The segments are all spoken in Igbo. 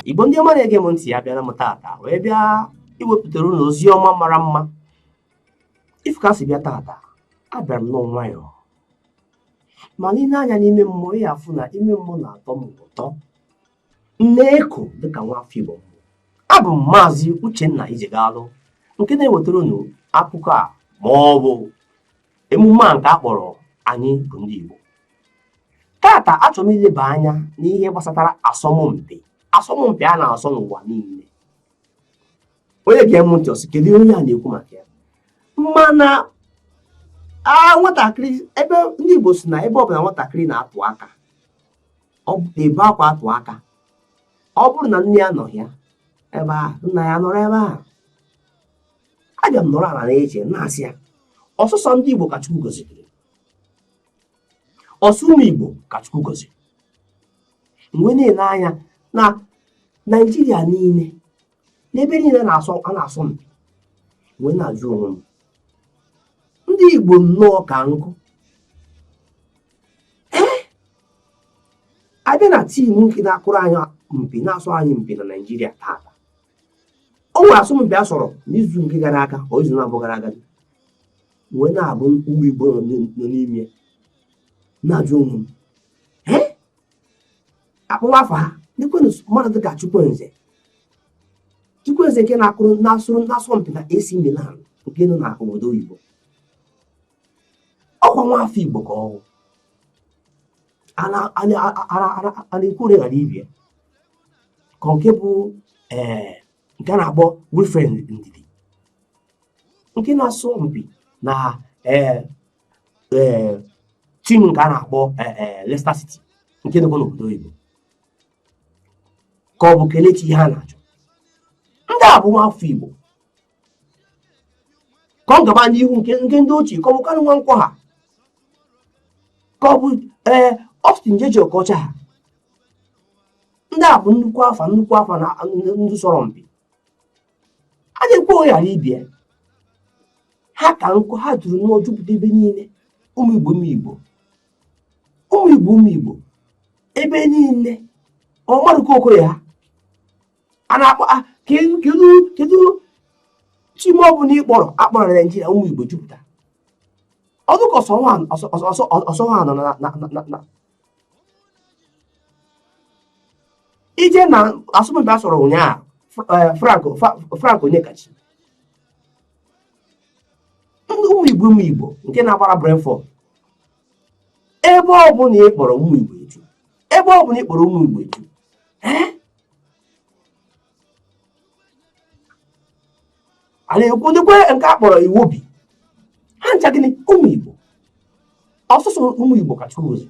igbo ndị ọma na-ege m ntị abịara m tata wee bịa iwepụtara unu ozi ọma mara mma ị fụ ka m si bịa tata abịara m nnọọ nwayọọ mana i lee anya n'ime mmụọ ị ya-afụ na ime mmụọ na-atọ m ụtọ Na-eko dịka nwafọ Igbo abụ m maazị Uchenna Ijegalụ nke na-ewetara unu akụkọ a ma ọ bụ emume a nke a kpọrọ anyị bụ ndị Igbo tata achọrọ m ileba anya n'ihe gbasatara asọmpi asọmpi a na-asọ n'ụwa niile onye gee m ntị ọ sị kedu onye a na-ekwu maka ya mana nwatakịrị ebe ndị Igbo sị na ebe ọ bụla nwatakịrị na-atụ aka ọ na-ebe akwa atụ aka ọ bụrụ na nne ya anọrọ ya ebe a nna ya anọrọ ebe a abịa m nọrọ ala na-eche na-asị ya ọ sọsọ ndị Igbo ka Chukwu gọziri ọ sọ ụmụ Igbo ka Chukwu gọziri m wee na-ele anya na Naijiria niile n'ebe niile na-asọ a na-asọ m wee na-ajụ onwe m ndị Igbo nnọọ ka nkụ ee a bịa na tim nke na-akụrụ anyị mpi na-asọ anyị mpi na Naịjirịa taata o nwere asọmpi a sọrọ n'izu nke gara aga or izu naabọ gara aga wee na-abụ ụmụ Igbo nọ n'ime na-ajụ onwe m a kpọwa afa ha kedụkwanụ mmadụ dịka chukwueze chukwueze nke na-akụrụ na-asọrọ na-asọ mpi na AC Milan nke nọ na obodo oyibo ọ kwa nwa afọ igbo ka ọ wụ a na-ekwu ole ghara ibe ya ka ọ nke bụ ee nke a na-akpọ Wilfred Ndidi nke na-asọ mpi na ee tim nke a na-akpọ Leicester City nke nọkwa n'obodo oyibo ka ọ bụ Kelechi Iheanacho ndị a bụ nwa afọ igbo ka ọ gaba n'ihu nke nke ndị ochie ka ọ bụ Kanu Nwankwo ha ka ọ bụ ee Austin Jay-Jay Okocha ha ndị a bụ nnukwu afa nnukwu afa na ndị sọrọ mpi a na-ekwu ole ghara ibe ya ha ka nkụ ha juru nnọọ jupụta ebe niile ụmụ igbo ụmụ igbo ụmụ igbo ụmụ igbo ebe niile ọ Maduka Okoye ha a na-akpọ ah, kedu kedu tim ọ bụla ị kpọrọ a kpọrọ na naijiria ụmụ igbo jupụta ọ dịka ọ sọ ha nọ ije na asọmpi a sọrọ ụnyaahụ eh, frank onyekachi ndị ụmụ igbo ụmụ igbo nke na-agbara brentford ebe ọ bụla ị kpọrọ ụmụ igbo eju ebe ọ bụla ị kpọrọ ụmụ igbo eju eh? a na-ekwu dịkwa nke a kpọrọ Iwobi ha ncha gịnị ụmụ Igbo ọ sọsọ ụmụ Igbo ka Chukwu gọzi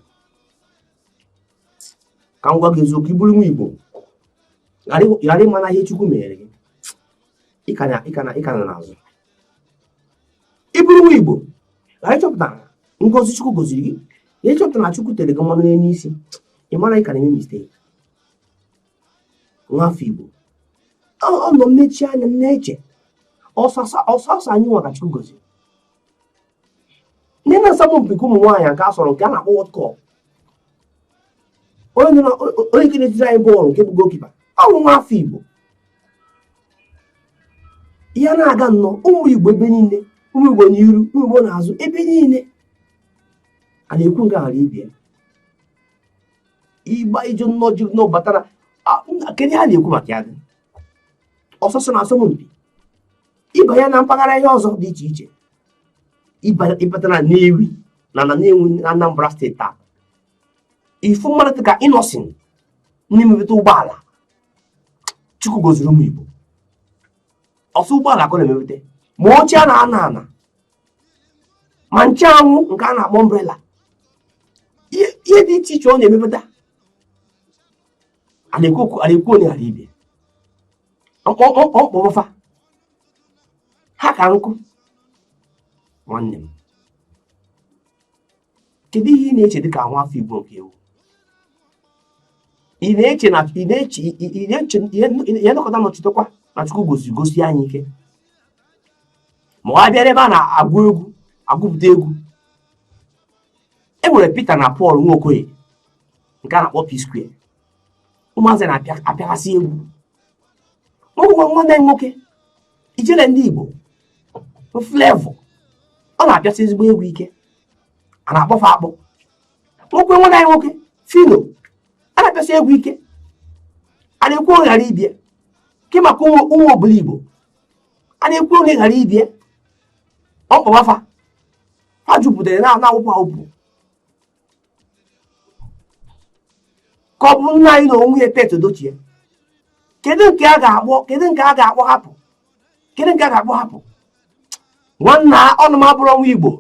ka m gwa gị eziokwu ị bụrụ nwa Igbo ghara ịma na ihe Chukwu mere gị ị ka nọ n'azụ ị bụrụ nwa Igbo ghara ịchọpụta ngọzi Chukwu gọziri gị na ịchọpụta na Chukwu tere gị mmanụ n'elu isi ị mara na ị ka na-eme mistake nwafọ Igbo ọ nọ m mechie anya m na-eche ọ sọsọ anyị nwa ka Chukwu gọziri ndị na asọmpi nke ụmụ nwaanyị nke a sọrọ nke a na-akpọ World Cup onye nke na-etiri anyị bọọlụ nke bụ gokipa ọ bụ nwa afọ Igbo ya na-aga nnọọ ụmụ Igbo ebe niile ụmụ Igbo n'iru ụmụ Igbo n'azụ ebe niile a na-ekwu nke a ghara ibie ịgba ije nnọọ jiri nnọọ batara kedu ihe a na-ekwu maka ya gị ọ sọsọ na asọmpi ị banye na mpaghara ihe ọzọ dị iche iche ị bata na Nnewi na na Nnewi na Anambra steeti taa ị fụ mmadụ dị ka Innoson na-emepụta ụgbọala chukwu gọziri ụmụ Igbo ọ sọ ụgbọala ka ọ na-emepụta ma oche a na-anọ anọ ma ncheanwụ nke a na-akpọ umbrella ihe ihe dị iche iche ọ na-emepụta a na-ekwu okwu- a na-ekwu onye ghara ibe ọ kpọfa ha ka nkụ nwanne m kedu ihe ị na-eche dịka nwa afọ Igbo nke ị wụ ị na-eche ị nọkata na-echetakwa na Chukwu gọzi gọzisi anyị ike ma ọ bịara ebe a na-agụ egwu agụpụta egwu e nwere Peter na Paul nwa Okoye nke a na-akpọ P-Square ụmụazị na-apịaghasị egwu nwa nwanne nwoke ijele ndị Igbo Flavour ọ na-apịasị ezigbo egwu ike a na-akpọfe akpọ nwoke nwanne anyị nwoke Phyno a na-apịasị egwu ike a na-ekwu onye ghara ibie ke maka ụmụ Obiligbo a na-ekwu onye ghara ibie ọ kpọwafa ha jupụtara na-awụpụ awụpụ ka ọ bụ nna anyị na onwe ya pete edochie kedu nke a ga-akpọ kedu nke a ga-akpọ hapụ kedu nke a ga-akpọ hapụ nwanna ọnụ m abụrọ nwa igbo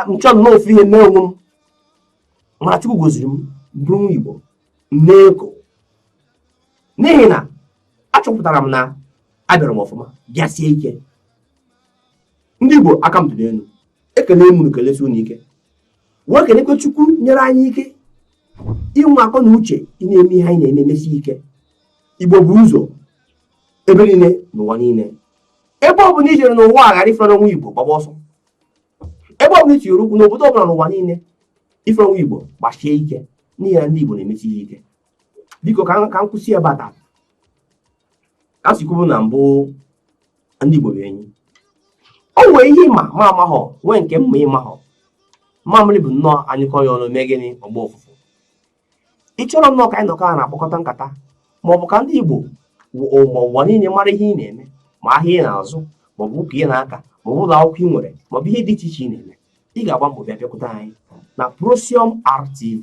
m chọọ nnọọ ofu ihe mee onwe m mana chukwu goziri m bụrụ nwa igbo m na-eko n'ihi na achọpụtara m na abịara m ọfụma bịasie ike ndị igbo aka m dị n'elu ekene m unu kelesi unu ike wee kenekwe chukwu nyere anyị ike inwe akọ na uche ị na-eme ihe anyị na-eme emesi ike igbo bu ụzọ ebe niile n'ụwa niile ebe ọ bụla i jere n'ụwa a ghara ịfụ nwa igbo gbaba ọsọ ebe ọ bụla i tinyere ụkwụ n'obodo ọbụla n'ụwa niile ị fụrọ nwa igbo gbasie ike n'ihi na ndị igbo na-emesi ihe ike biko ka m kwụsị ya ebe a taa ka a si kwubu na mbụ ndị Igbo bụ enyi o nwee ihe ị ma m amahọ nwee nke m ma ị mahọ mamịrị bụ nnọọ a nyụkọọ ya ọnụ mee gịnị ọ gbaa ụfụfụ ị chọrọ nnọọ ka anyị nọkọọ na-akpakọta nkata ma ọ bụ ka ndị Igbo ma ụwa niile mara ihe ị na-eme ma ahịa ị na-azụ ma ọ bụ ụka ị na-aka ma ọ bụ ụlọ akwụkwọ ị nwere ma ọ bụ ihe dị iche iche ị na-eme ị ga-agba mbọ bịa bịakwute anyị na Prosium RTV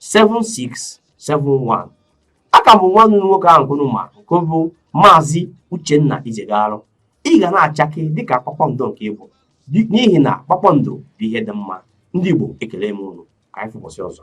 7671 aka m bụ nwanne unu nwoke ahụkwa unu ma nke bụ maazị Uchenna Ijegarụ ị ga na-achake dịka kpakpando nke ị bụ n'ihi na kpakpando bụ ihe dị mma ndị Igbo ekele m unu ka anyị fụ ụbọsị ọzọ